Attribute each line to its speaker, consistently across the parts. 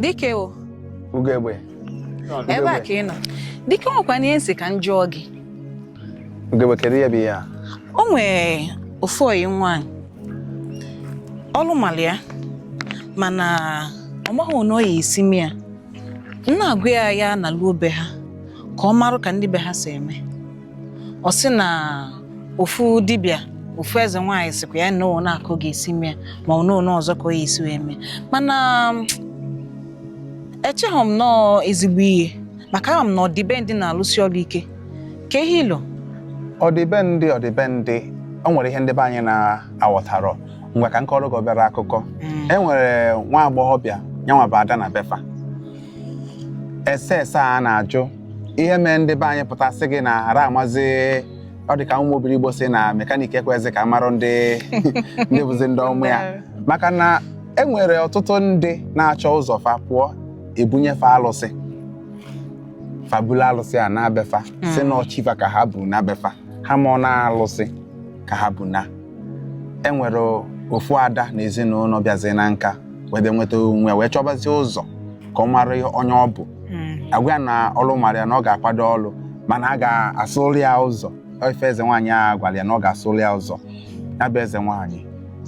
Speaker 1: dike
Speaker 2: o
Speaker 1: ugegbe ebe a ka ị nọ dike nwekwa ihe m sị ka m jụọ gị
Speaker 2: ugegbe kedu ihe bụ ihe a o nwee
Speaker 1: ofu oyi nwaanyị ọlụ mara ya mana ọ maghị na ọ ya esi mee ya m na-agwa ya ya naluo be ha ka ọ marụ ka ndị be ha si eme ọ sị na ofu dibịa ofu eze nwaanyị sịkwa ya nọọ na a ka ọ ga-esi mee ma ọ nọọ ọzọ ka ọ ya esi wee mee mana echeghị m nọọ ezigbo ihe maka ama m na ọdịbendị na-alụsi ọrụ ike ka ihe ilo ọdịbendị
Speaker 2: ọdịbendị o nwere ihe ndị be anyị na-aghọtarọ ngwa ka m kọrọ gị obere akụkọ mm. e nwere nwa agbọghọbịa nyanwa bụ ada na be fa ese ese a na-ajụ ihe mee ndị be anyị pụta sị gị na hara amazi ọ dị ka ụmụ obiligbo sị na mekanik ekwezi ka a marụ ndị bụzi ndị ọmụ ya maka na e nwere ọtụtụ ndị na-achọ ụzọ fa pụọ e bunye fa alụsị fa bulu alụsị a naa be fa sị na ọ chi fa ka ha bu naa be fa ha amarọ na alụsị ka ha bu na e nwere ofu ada na ezinụlọ bịazi na nka wee bịa nweta onwe ya wee chọbazie ụzọ ka ọ mara onye ọ bụ Mm. a gwa ya na ọrụ mara ya na ọ ga-akwado ọrụ mana a ga-asụrụ ya ụzọ ife eze nwaanyị a gwara ya na ọ ga-asụrụ ya ụzọ ya bụ eze nwaanyị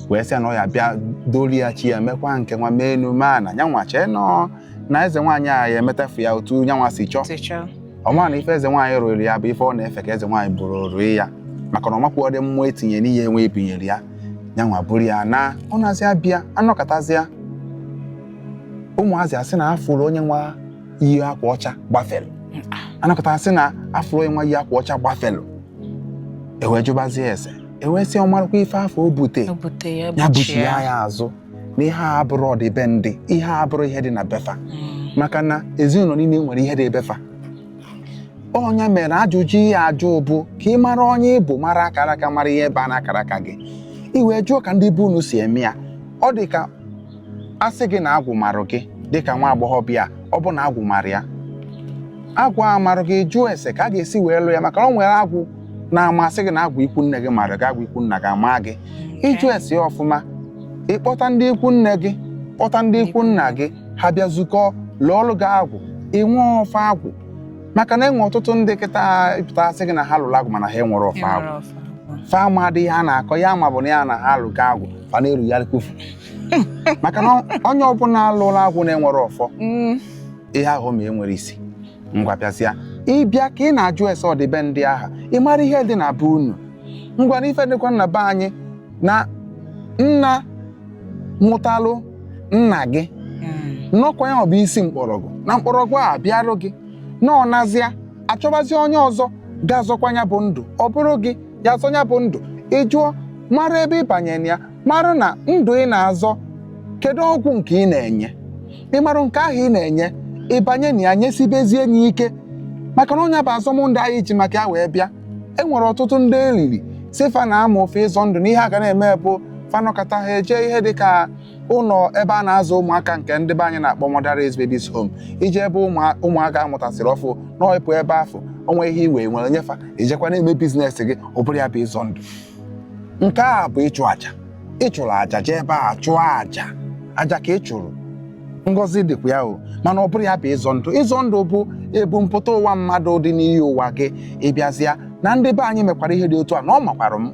Speaker 2: wee sị ya na ọ ya abịa dooro ya chi ya mekwa nke nwa mee enu mee ana ya nwa chee nọ na eze nwaanyị a ya emetafu ya otu ya nwa si chọọ ọ ma na ife eze nwaanyị rụrụ ya bụ ife ọ na-efe ka eze nwaanyị buru rụọ ya maka na ọ makwarọ ụdị mmụọ e tinye n'ihe e wee bunyere ya ya nwa buru ya naa ọ nazị abịa a nọkatazịa ụmụazị asị na a fụrụ onye nwa yi akwa ọcha gbafere a nọkata a sị na a fụrụ onye nwa yi akwa ọcha gbafere e wee jụbazie ese e wee sị ọ marakwa ife afụ o bute ya buchie ya azụ na ihe a abụrọ ọdịbendị ihe a abụrọ ihe dị na be fa mm. maka na ezinụlọ niile nwere ihe dị be fa ọ nya mere ajụjụ ị ya-ajụ bụ ka ị mara onye ị bụ mara akara aka mara ihe ebe a na akara aka gị ị wee jụọ ka ndị be unu si eme ya ọ dị ka a sị gị na agwụ marụ gị dị ka nwa agbọghọbịa ọ bụ na agwụ mara ya agwụ amarụ gị jụọ ese ka a ga-esi wee lụọ ya maka o nwere agwụ na-ama a sị gị na agwụ ikwu nne gị mara gị agwụ ikwu nna gị ama gị ị jụọ ese ọfụma ị kpọta ndị ikwu nne gị kpọta ndị ikwu nna gị ha bịa zukọ lụọrọ gị agwụ ị nwee ọfọ agwụ maka na e nwee ọtụtụ ndị kịta ị pụta a sị gị na ha lụrụ agwụ mana ha enwerọ ọfọ agwụ fa ma adịghị ha na-akọ ya ma ọ bụ na ya na ha alụ gị agwụ fa na-eru ya kwufu maka na onye ọbụla a lụla agwụ na-enwere ọfọ mm. ihe ahụ ma enwere isi ngwa bịazịa ị bịa ka ị na-ajụ ese ọdịbendị aha ị mara ihe dị na be unu ngwa na ife dịkwa na be anyị na nna mụtalụ nna gị nọkwa ya ọ bụ isi mkpọrọgwụ na mkpọrọgwụ a bịarụ gị na ọ nazịa achọbazi onye ọzọ ga-azọkwa ya bụ ndụ ọ bụrụ gị ya-azọ ya bụ ndụ ị jụọ mara ebe ị banyere ya mara na ndụ ị na-azọ kedu ọgwụ nke ị na-enye ị marụ nke ahụ ị na-enye ị banye na ya nyesibezie enye ike maka na ọ nya bụ azọm ndụ anyị ji maka ya wee bịa e nwere ọtụtụ ndị e riri isi fa na ama ofe ịzọ ndụ na ihe ha ga na-eme bụ fa nọkọta ha eje ihe dị ka ụlọ ebe a na-azụ ụmụaka nke ndị be anyị na-akpọ Motherless Babies Home i je ebe ụmụaka a mụtasịrị ọfụụ nọ ị pụ ebe afụ o nwee ihe i nwere nye fa i jekwa na-eme bizinesi gị ọ bụrọ ya bụ ịzọ ndụ nke a bụ ịchụ aja ị chụrụ aja jee ebe a chụọ aja aja ka ị chụrụ ngọzi dịkwa ya o mana ọ bụrọ ya bụ ịzọ ndụ ịzọ ndụ bụ ebumpụta ụwa mmadụ dị n'iyi ụwa gị ị bịazịa na ndị be anyị mekwara ihe dị otu a na ọ makwara m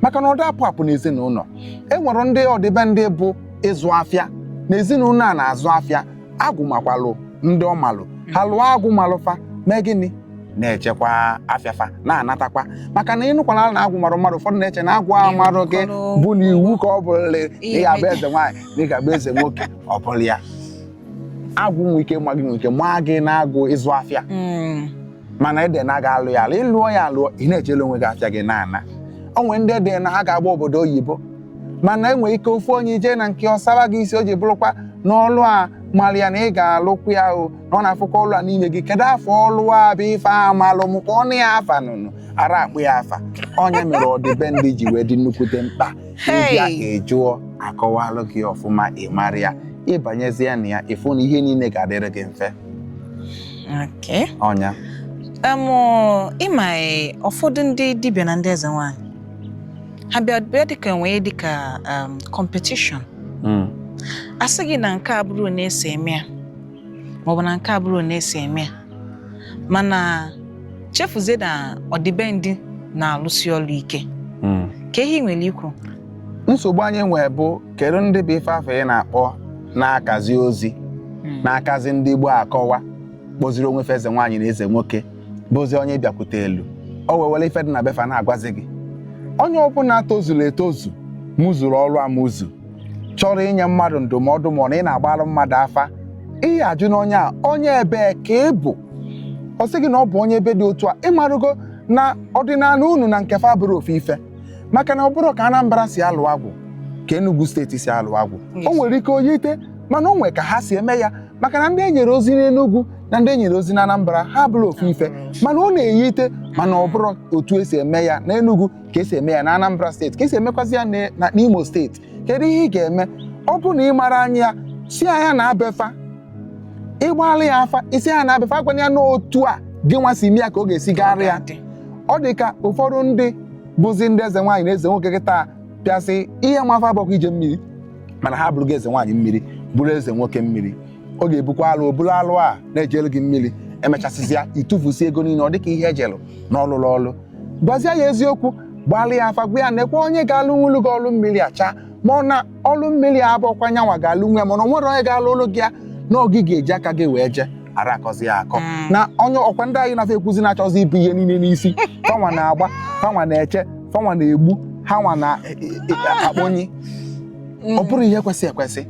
Speaker 2: maka na ọ da apụ apụ n'ezinụlọ e nwere ndị ọdịbendị bụ ịzụ afịa na ezinụlọ a na-azụ afịa agwụ makwalụ ndị ọ malụ ha lụọ agwụ malụ fa mee gịnị na-ejekwa afịa fa na-anatakwa maka na ị nụkwala na agwụ marụ mmadụ ụfọdụ na-eche na agwụ ahụ marụ gị bụ na iwu ka ọ bụrụ na ị ga-abụ eze nwaanyị na ị ga-abụ eze nwoke ọ bụrọ ya agwụ nwe ike ma gị nwe ike maa gị na agwụ ịzụ afịa Mm. mana e de na a ga-alụ ya alụ ị lụọ ya alụọ ị na-ejele onwe gị afịa gị na-ana o nwere ndị e de na ha ga-agba obodo oyibo mana e nwere ike ofu onye i je na nke ọsara gị isi o ji bụrụkwa n'ọlụ a mara ya na ị ga-alụkwa ya o na ọ na-afụkwa ọlụ a n'ime gị kedu afa ọlụ a bụ ife a malụ m ka ọnụ ya afa na unu ara akpọ ya afa ọ nya mere ọdịbendị ji wee dị nnukwute mkpa ị bịa jee jụọ a kọwalụ gị ọfụma ị mara ya ị banyezie na ya ị fụ na ihe niile ga-adịrị gị mfe Okay. ọ nya Em,
Speaker 1: ọ, ị ma e, ụfọdụ ndị dibịa na ndị eze nwaanyị ha bịa bịa dịka e nwee dịka em, competition Mm. a sị gị na nke a abụrọ onye e si eme ya maọbụ na nke a abụrọ onye e si eme ya mana chefuzie na ọdịbendị na-alụsi ọlụ ike Mm. kee ihe ị nwere ikwu nsogbu anyị
Speaker 2: nwee bụ kedu ndị bụ ife afụ ị na-akpọ na-akazi ozi hmm. na-akazi ndị Igbo akọwa kpọziri onwe fa eze nwaanyị na eze nwoke bụzi onye bịakwutelu o wee were ife dị na be fa na-agwazi gị onye ọbụla tozuru etozu mụzuru ọrụ amụzu chọrọ inye mmadụ ndụmọdụ ma ọ na ị na-agbara mmadụ afa ị ga-ajụ na onye a onye ebee ka ị bụ ọ sị gị na ọ bụ onye ebe dị otu a ị marụgo na ọdịnala unu na nke fa bụrọ ofu ife maka na ọ bụrọ ka Anambra si alụ agwụ ka Enugu steeti si alụ agwụ o nwere ike o yite mana o nwere ka ha si eme ya maka na ndị e nyere ozi n'Enugu na ndị e nyere ozi na Anambra ha abụrọ ofu ife mana ọ na-eyite mana ọ bụrọ otu e si eme ya na Enugu ka esi eme ya na Anambra steeti ka esi emekwazi ya na na- n'Imo steeti kedu ihe ị ga-eme ọ bụ na ị mara anya ya si anya na befa ị gbalị ya afa isi anya na befa agwanye ya n'otu a gị nwa si mee ya ka ọ ga-esi gaara ya ọ dị ka ụfọdụ ndị bụzi ndị eze nwaanyị na eze nwoke kịta pịasị ihe mafa bụkwa ije mmiri mana ha bụrụ gị eze nwaanyị mmiri bụrụ eze nwoke mmiri ọ ga-ebukwa alụ oburu alụ a na-ejelu gị mmiri e mechasịzịa i tufusi ego niile ọ dịka ihe e jelu na ọlụlụ ọlụ gwazie ya eziokwu gbalị ya afa gwa ya nekwa onye ga-alụnwulu gị ọlụ mmiri acha ma ọ na ọlụ mmiri abụrọkwa nyanwa ga-alụnwu mana o nwere onye ga-alụlụ gị ya na ọ gị ga-eji aka gị wee jee ara akọzi ya akọ mm. na onye ọkwa ndị anyị na fa ekwuzi na-achọzi ibu ihe niile n'isi fanwa na-agba fanwa na-eche fanwa na-egbu ha nwa na-akpọnye e, e, e, ọ bụrọ ihe kwesi ekwesi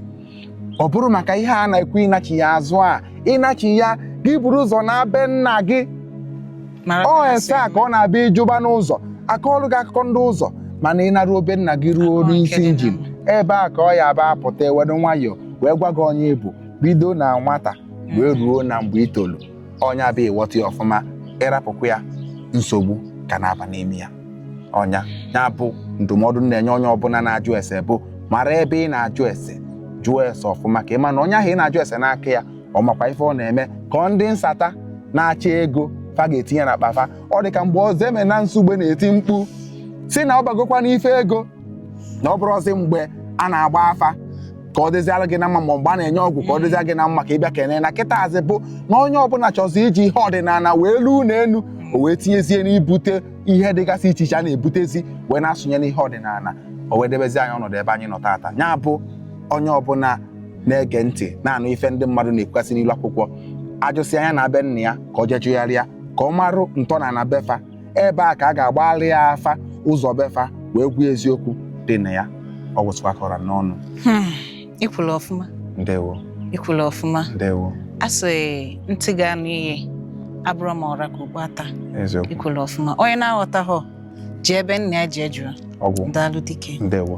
Speaker 2: ọ bụrụ maka ihe a na-ekwu ịnachi ya azụ a ịnachi ya gị buru ụzọ na be nna gị ọ ese a ka ọ na-abịa ị jụba n'ụzọ a kọọlụ gị akụkọ ndị ụzọ mana ị naruo be nna gị ruo oru isi injin ebe a ka ọ ya bụ apụta e wedo nwayọọ wee gwa gị onye ị bụ bido na nwata wee mm. ruo na mgbe i tolu ọ nya bụ ị ghọta ya ọfụma ị rapụkwa ya nsogbu ka na-aba n'ime ya ọ nya ya bụ ndụmọdụ na-enye onye ọbụla na-ajụ ese bụ mara ebe ị na-ajụ ese jụọ ese ọfụma ka ị ma na onye ahụ ị na-ajụ ese n'aka ya ọ makwa ife ọ na-eme ka ọ ndị nsata na-achọ ego fa ga-etinye n'akpa fa ọ dị ka mgbe Ọzọemena Nsugbe na-eti mkpu si na ọ bagokwa n'ife ego na ọ bụrọzi mgbe a na-agba afa ka ọ dịziara gị na mma ma mgbe a na-enye ọgwụ ka ọ dịzia gị na mma ka ị bịa kene na kịtaazị bụ na onye ọbụla chọzi iji ihe ọdịnala wee luo n'elu o wee tinyezie n'ibute ihe dịgasị iche iche a na-ebutezi wee na-asụnye n'ihe ọdịnala o wee debezi anyị ọnọdụ ebe anyị nọ taata ya bụ onye ọbụla na-ege ntị na-anụ ife ndị mmadụ na-ekwukasị n'ilu akwụkwọ ajụsị anya na be nna ya ka ọ jee jụgharịa ka ọ marụ ntọana befa ebe a ka a ga-agbalị ya afa ụzọ befa wee gwuo eziokwu dị na ya ọ wụsịkwa kọrọ n'ọnụ Hmm, ị
Speaker 1: kwuru ọfụma ndewo
Speaker 2: ị kwuru
Speaker 1: ọfụma ndewo a sị ntị ga-anụ ihe abụrọ ma ọ ra ka okpu ata eziokwu ị kwuru ọfụma onye na-aghọtaghọ jee be
Speaker 2: nna ya
Speaker 1: jee jụrụ ọgwụ daalụ dike ndewo